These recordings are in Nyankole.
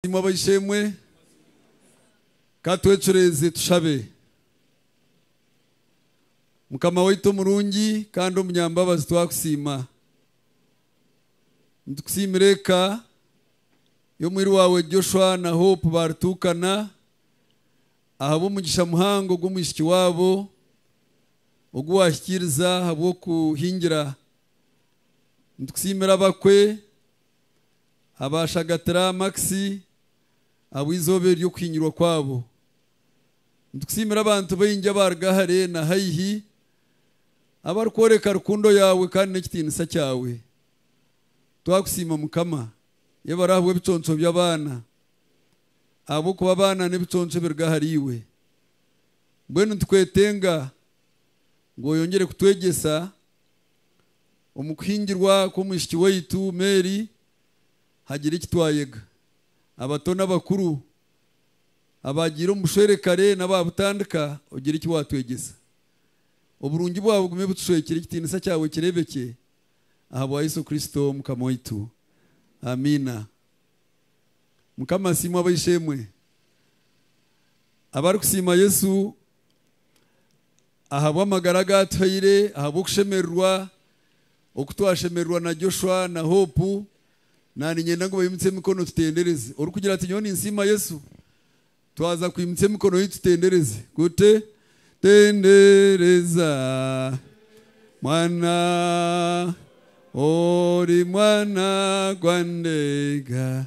Abasiimwa Baishe-emwe, ka twecureeze tushabe. Mukama waitu omurungi kandi omunyambabazi twakusiima. Nitukusiimira eka y'omwiru waawe Joshua na Hope baarituukana ahabw'omugisha muhango ogw'omwishiki waabo ogu waahikiiriza ahabw'okuhingira. Nitukusiimira abakwe abaashagatira Max abu eizooba ery'okuhinyirwa kwabo. Nitukusiimira abantu baingi abaaruga hare na haihi abarikworeka rukundo yaawe kandi n'ekitiinisa kyawe. Twakusiima Mukama. Yebare ahabw'ebiconco by'abaana, ahabw'okuba abaana n'ebiconco ebiruga ahariiwe. Mbwenu nitukwetenga ngu oyongyere kutwegyesa Omu kuhingirwa kw'omwishiki waitu Mary, hagira eki twayega. Abato n'abakuru, abaagiire omu bushwere kare n'abaabutandika, ogira eki waatwegyesa. Oburungi bwawe bugume butushwekire, ekitiinisa kyawe kireebekye. Ahabwa Yesu Kristo Omukama waitu. Amiina. Mukama asiimwe ab'eishe-emwe abarikusiima Yesu. Ahabw'amagara agu atuhaire, ahabw'okushemererwa oku twashemererwa na Joshua na Hope, naanye niinyenda ngu baimutse emikono tutendereze. Orikugira ati, Nyowe ninsiima Yesu. Twaza kwimutsa emikono yitu tutendereze. Kute, Tendereza mwana, ori mwana gwa Ndeega.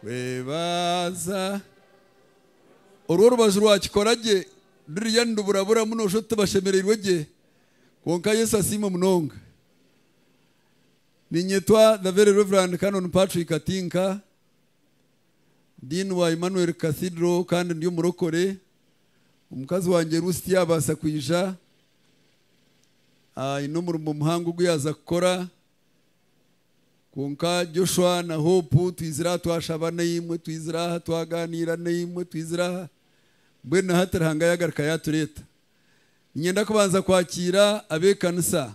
Kwebaza. Orwo orubaju rwakikora gye ruriya niruburaburamu noshusha oti tibashemereirwe gye. Kwonka Yesu asiimwe munonga. Ninyetwa The Very Reverend Canon Patrick Katinka, Dean wa Emmanuel Cathedral kandi ndi omurokore. Omukazi wangye Ruth tiyabaasa kwija. Aine omurimo muhango ogu yaza kukora. Kwonka Joshua na Hope twizire aha twashaba naimwe, twizire aha twagaaniira naimwe, twizire aha. Mbwenu na hati Ruhanga yaagaruka yaatureeta. Niinyenda kubanza kwakiira ab'ekanisa.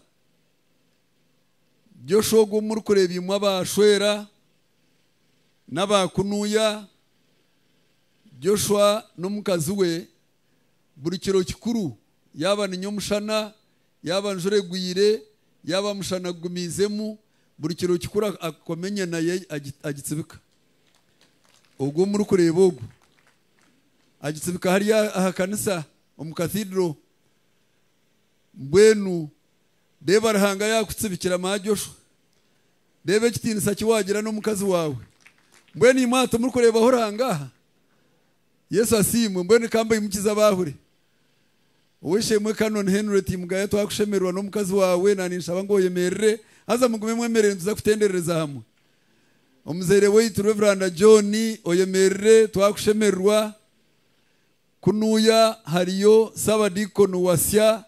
Joshua ogu ou murikureeba imwe abaashwera, n'abaakunuya, Joshua n'omukazi we buri kiro kikuru, yaaba ninya omushana, yaaba njura egwire, yaaba mushana gugumiizemu, buri kiro kikuru akakoma enyana ye agitsibika. Ogwo murikureeba ogwo, agitsibika hari aha kanisa omu Cathedral. Mbwenu reeba Ruhanga yaakutsibikira Maa Joshua, reeba ekitiinisa ki waagira n'omukazi waawe. Mbwenu imwe aha timurikureebaho Ruhanga aha? Yesu asiimwe, mbwenu ka mbaimukize abaahure. Ow'eishe-emwe Canon Henry Timugaya twakushemererwa n'omukazi waawe, naaninshaba ngu oyemerere haza mugume mwemerire nituza kutenderereza hamwe. Omuzaire waitu Reveranda John oyemerire twakushemererwa. Kunuuya hariyo Ssaabadiikoni Wasya,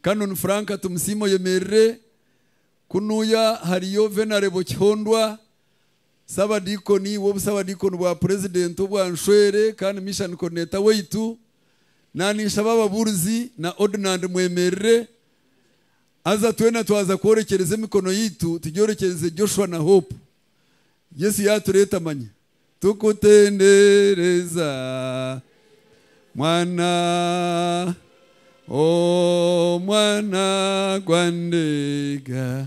Canon Frank Tumusiime oyemerire. Kunuuya hariyo Venarebo Kihondwa, Ssabadiikoni w'Obusabadiikoni bwa Purezidenti obwa Nshwere kandi Mission Coordinator waitu, naninshaba ababuurizi na Ordnand mwemerire haza twena twaza kworekyereza emikono yaitu tugyorekyereze Joshua na Hope. Yesu yatureeta manya. Tukutendereza Mwana oh Mwana gwa Ndeega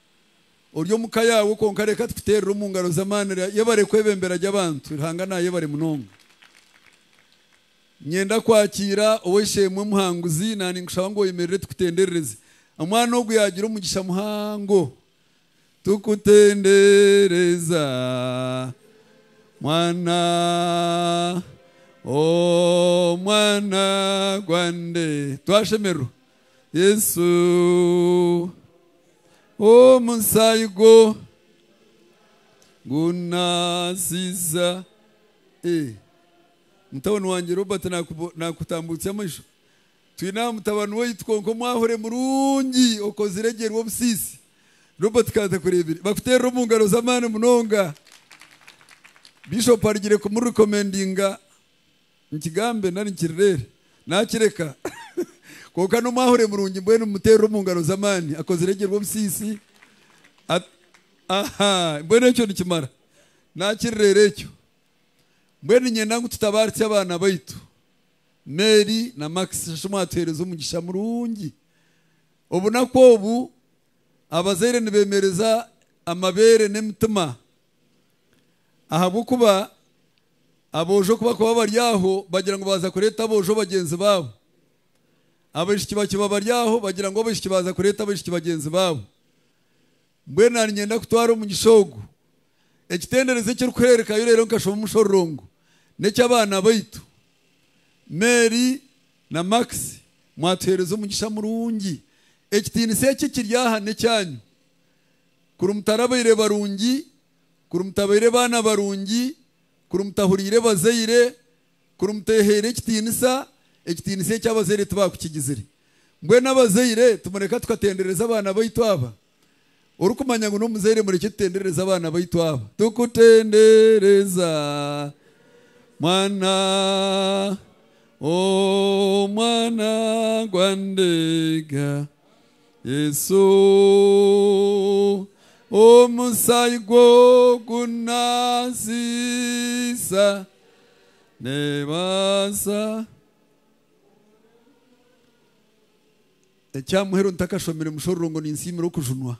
Ori omu ka yaawe kwonka reka tukuteerere omu ngaro z'amaani ra yebare kwebembera gye abantu Ruhanga naayebare munonga. Niinyenda kwakiira Ow'eishe-emwe Muhanguzi na ninkushaba ngu oyemerere tukutenderereze amwana ogu yaagira omugisha muhango. Tukutendereza mwana oh mwana gwande. Twashemererwa. Yesu, omusaayi gwo gunaasiiza. Ee, mutabani wangye Robert naakubo- naakutambuutsya amaisho. Twine aha mutabani waitu kwonka omwahure murungi okozire gye rw'obusiisi. Robert ka ntakureebire. Bakuteerere omu ngaro z'amaani munonga. Bishop arugire kumu recomendinga Nkigambe nari nkirirere nakireka kwonka n'omwahure murungi mbwenu mumuterere omu ngaro z'amaani akozire gye rw'obusiisi aha mbwenu ekyo nikimara nakirirere ekyo mbwenu ninyenda ngu tutabaritse abaana baitu Mary na Max shasha omwatuhereza omugisha murungi obunaku obu abazaire nibemereza amabeere n'emitima Ahabw'okuba aboojo ku bakuba bari aho bagira ngu baaza kureeta aboojo bagyenzi baabo, abaishiki bakiba bari aho bagira ngu abaishiki baaza kureeta abaishiki bagyenzi baabo. Mbwenu naanye niinyenda kutwara omugisha ogu. Ekitenderezo eki orikuhererekayo reero nkashoma omu mushororongo n'eky'abaana baitu Mary na Max. Mwatuheereza omugisha murungi. Ekitiinisa eki ekiri aha n'ekyanyu. Kuri mutarabaire barungi, kuri mutabaire baana barungi, kuri mutahuriire bazaire, kuri muteehaire ekitiinisa, ekitiinisa eki abazaire tibaakukigizire. Mbwenu abazaire, timureka tukatendereza abaana baitu aba. Orikumanya ngu n'omuzaire murekye tutenderereze abaana baitu aba. Tukutendereza, mwana, oh mwana gwa Ndega, Yesu, omusaayi gwo gunaasiisa neebaasa ekya muheru ntakashomire mushororo ngu ninsiimira okujunwa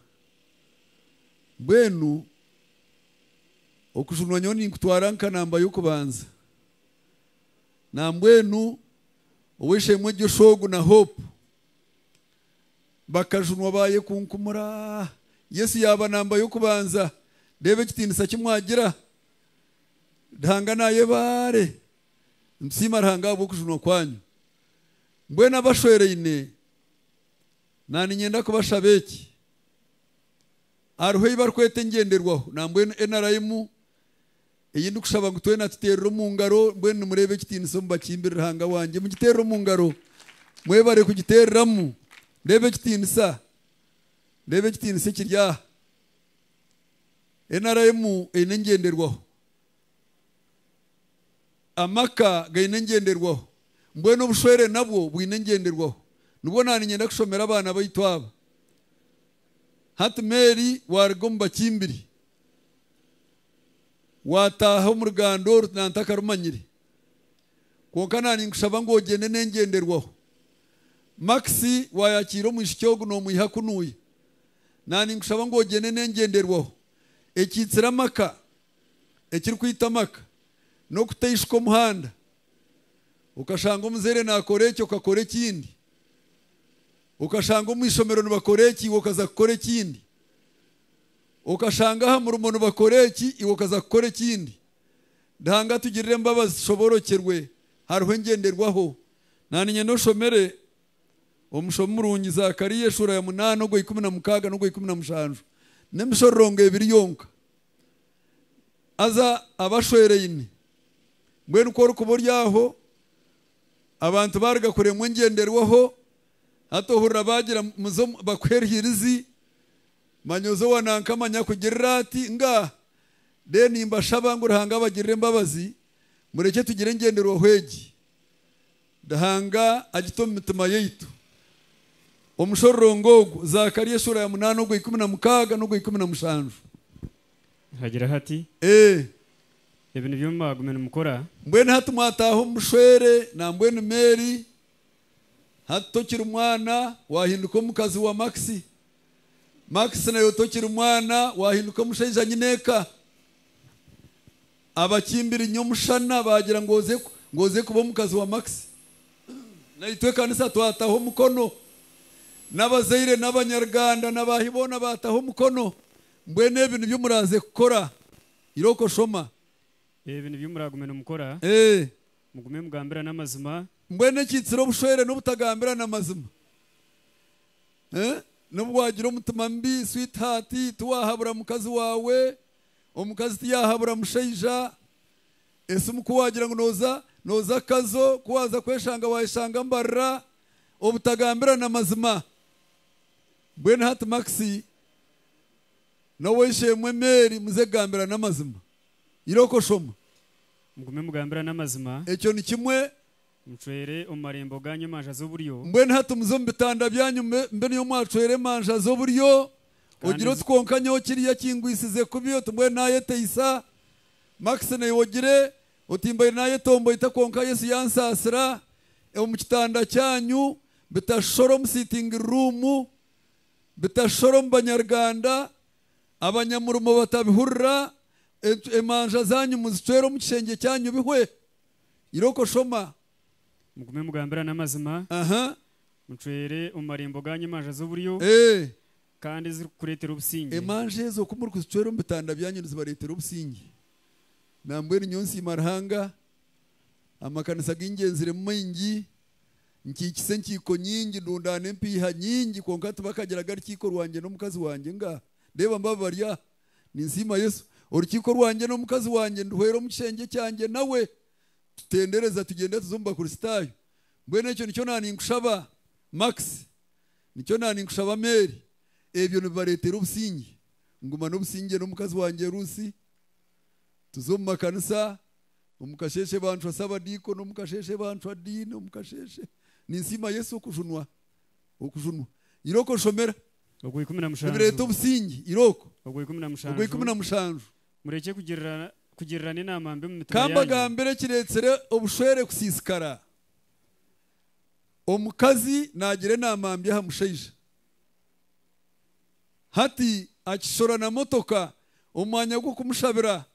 mbwenu okujunwa nyowe ninkutwara nka namba y'okubanza nambwenu ow'eishe-emwe Joshua ogu na Hope bakajunwa baayekunkumura. Yesu yaaba namba y'okubanza. Reeba ekitiinisa ki mwagira! Ruhanga naayebaare. Nitusiima Ruhanga ahabw'okujunwa kwanyu. Mbwenu abashweraine, naaniinyenda kubashaba eki, hariho ei barikweta engyenderwaho nambwenu NRM, Ei ndikushaba ngu twena tuteerere omu ngaro. Mbwenu nimureeba ekitiinisa omu bakimbiri Ruhanga wangye. Mugiteerere omu ngaro. Mwebare kugiteereramu. Reeba ekitiinisa. Reeba ekitiinisa ekiri aha. NRM eine engyenderwaho. Amaka gaine engyenderwaho. Mbwenu obushwere nabwo bwine engyenderwaho. Nibwo naaniinyenda kushomera abaana baitu aba. Hati Mary waaruga omu bakimbiri. Waataaha omu ruganda oru nantakarumanyire, kwonka naaninkushaba ngu ogyende n'engyenderwaho. Max, Waayakiira omwishiki ogu noomwiha kunuuya. Naaninkushaba ngu ogyende n'engyenderwaho ekiitsire amaka, ekirikwita amaka, n'okuteishuka omuhanda. Okashanga omuzeire naakora eki okakora ekindi. Okashanga omu ishomero nibakora eki iwe okaza kukora ekindi. Okashanga aha murimo nibakora eki, iwe okaza kukora ekindi. Ruhanga atugirire embabazi tushoboorokyerwe hariho engyenderwaho. Naaniinye n'oshomere omushomo murungi Zakariya eshuura ya munaana ogwa ikumi na mukaaga n'ogwa ikumi na mushanju n'emishororongo ebiri yonka. Haza abashweraine, mbwenu ku orikuba ori aho abantu baaruga kuremwa engyenderwaho, hati ohurira baagira muze bakuhe erihirizi Manya oze owa nanka manya akugirire ati nga then nimbashaba ngu Ruhanga abagirire embabazi murekye tugire engyenderwaho egi Ruhanga agite omu mitima yaitu Omushororongo ogu Zakaria eshuura ya munaana ogwa ikumi na mukaaga n'ogwa ikumi na mushanju. Hagira hati, Ee. Ebi nibyo mwagume nimukora. Mbwenu hati mwataaha omu bushwere nambwenu Mary hati tokiri mwana wahinduka omukazi wa Maxie. Max nawe tokiri mwana wahinduka omushaija nyine eka. Abakimbiri nyomushana bagira ngu oze kuba omukazi wa Max. Naitwe ekanisa twataho omukono. Nabazaire nabanyarganda nabahi boona bataho omukono. Mbwenu ebi nibyo muraze kukora iroko shoma. Ebi nibyo muragume nimukora. Mugume mugambirane amazima. Mbwenu ekitsire obushwere nobutagambirana amazima. N'obu waagira omutima mubi sweetheart, tiwaahabura mukazi waawe, omukazi tiyaahabura mushaija. Esimu ku waagira ngu nooza nooza kazo, ku waaza kweshanga waayeshanga mbarira, obutagambirana mazima. Mbwenu hati Max n'ow'eishe-emwe Mary muze kugambirana amazima. Iroko shoma. Mugume mugambirane amazima. Ekyo ni kimwe. Ncwere omu marembo gaanyu emanja z'oburyo. Mbwenu hati muze omu bitanda byanyu mbe niyo mwacwera emanja z'oburyo, ogire oti, Kwonka nyowe kiriya kingwisize kubi, oti, Mbwenu naayeteisa. Max, naiwe ogire oti, Mbaire naayetomboita kwonka Yesu yansaasira. Omu kitanda kyanyu, bitashushoora omu sitingi ruumu, bitashushoora omu banyaruganda, abanyamurimo batabihurira, emanja zaanyu muzicwere omu kishengye kyanyu bihwe. Iroko shoma. Mugume mugambirane amazima. Aha. Mucwere omu marembo gaanyu emanja z'oburyo. Eeh. Kandi ezirikukureetera obusingye. Emanja ezo ku murikuzicwera omu bitanda byanyu nizibareetera obusingye. Nambwenu nyowe nsiima Ruhanga, amakanisa agu ngyenziremu maingi, nkiikisa enkiiko nyingi, ndundaana empiiha nyingi kwonka tibakagira gari kiiko rwangye n'omukazi wangye nga, reeba mbababarya. Ninsiima Yesu. Orukiiko rwangye n'omukazi wangye nduhweera omu kishengye kyangye nawe. Tutendereza tugyenda tuza omu Bakristaayo. Mbwenu ekyo nikyo naaninkushaba, Max. Nikyo naaninkushaba, Mary. Ebyo nibibareetera obusingye. Ngumana obusingye n'omukazi wangye Rusi. Tuza omu makanisa. Omu kasheeshe baanshwa Sabadiikono, omu kasheeshe baanshwa Diini, omu kasheeshe. Ninsiima Yesu okujunwa. Okujunwa. Iroko nshomera. Ogw'ikumi na mushanju. Nibireeta obusingi, irooko. Ogw'ikumi na mushanju. Ogw'ikumi na mushanju. Murekye kugirirana, kugirirana enaama mbi omu mitima yaanyu. Kambagambire ekireetsire obushwere kusiisikara, Omukazi naagira enaama mbi aha mushaija, hati akishora na motoka omu mwanya gw'okumushabira,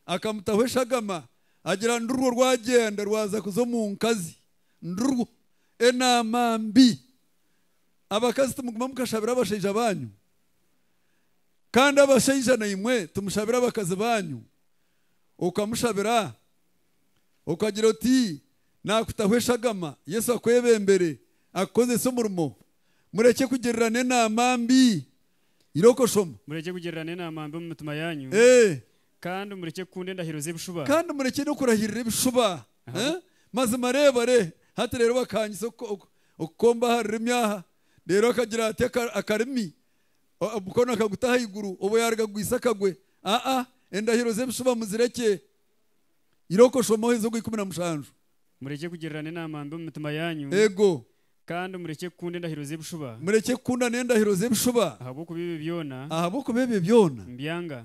akamutaho eshagama, agira ngu rurwo rwagyenda rwaza kuza omu nkazi, nirurwo. Enaama mbi. Abakazi timuguma mukashabira abashaija baanyu, kandi abashaija naimwe timushabira abakazi baanyu. Okamushabira, okagira oti, Naakutaho eshagama, Yesu akwebembere, akukozese omurimo. Murekye kugirirana enaama mbi. Iroko shoma. Murekye kugirirana enaama mbi omu mitima yaanyu, Ee. kandi murekye kukunda endahiro z'ebishuba. Kandi murekye n'okurahirira ebishuba. Mazima reeba, re, hati reero bakaanyitse okukomba aha rurimi aha, reero akagira ati, akarimi, omukono akaguta ahaiguru, obu yaaruga kugwitsa akagwe. Aa, endahiro z'ebishuba muzirekye. Iroko shoma oheze ogwa ikumi na mushanju. Murekye kugirirana enaama mbi omu mitima yaanyu. Eego. Kandi murekye kukunda endahiro z'ebishuba. Murekye kukunda n'endahiro z'ebishuba. Ahabw'okuba ebyo byona. Ahabw'okuba ebyo byona. Mbyanga.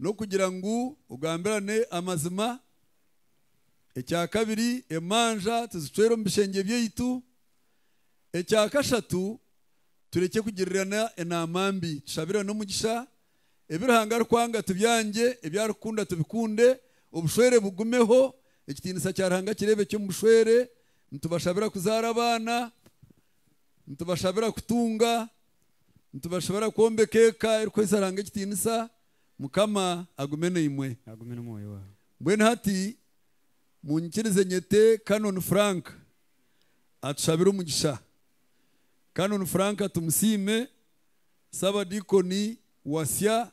n'okugira ngu ogambirane amazima. Ekya kabiri, emanja tizicwera omu bishengye byaitu. Ekya kashatu, turekye kugirirana enaama mbi, tushabirane omugisha. Ebi Ruhanga arikwanga tubyangye, ebi arikukunda tubikunde, obushwere bugumeho, ekitiinisa kya Ruhanga kireebekye omu bushwere. Nitubashabira kuzaara abaana, nitubashabira kutunga. Nitubashobera kwombeka eka erikuhesa Ruhanga ekitiinisa. Mukama agume naimwe. Agume n'omwoyo waawe. Mbwenu hati munyikirize nyete Canon Frank atushabire omugisha. Canon Frank tumusiime. Ssabadiikoni Wasya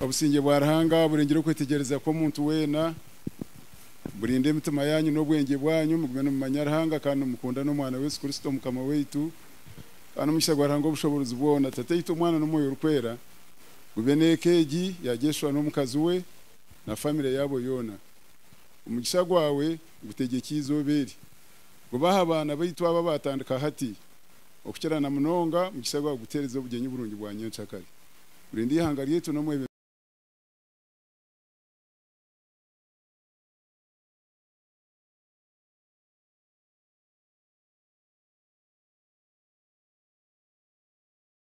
Obusingye bwa Ruhanga burengire okwetegyereza kw'omuntu weena. Burinde emitima yaanyu n'obwengye bwanyu, mugume nimumanya Ruhanga kandi nimukunda n'Omwana we Yesu Kristo Omukama waitu. Kandi omugisha gwa Ruhanga Ow'obushoboorozi bwona, Tataitu, Omwana, n'Omwoyo Orikwera, gube n'eka egi ya Jeshua n'omukazi we na famire yaabo yoona. Omugisha gwawe gutegyekye eizooba eri. Gube aha baana baitu aba baatandika hati, okukira na munonga mugisha gwa kugutereza obugyenyi burungi bwa nyenkyakare. Burinda ihanga ryaitu n'omwebembezi.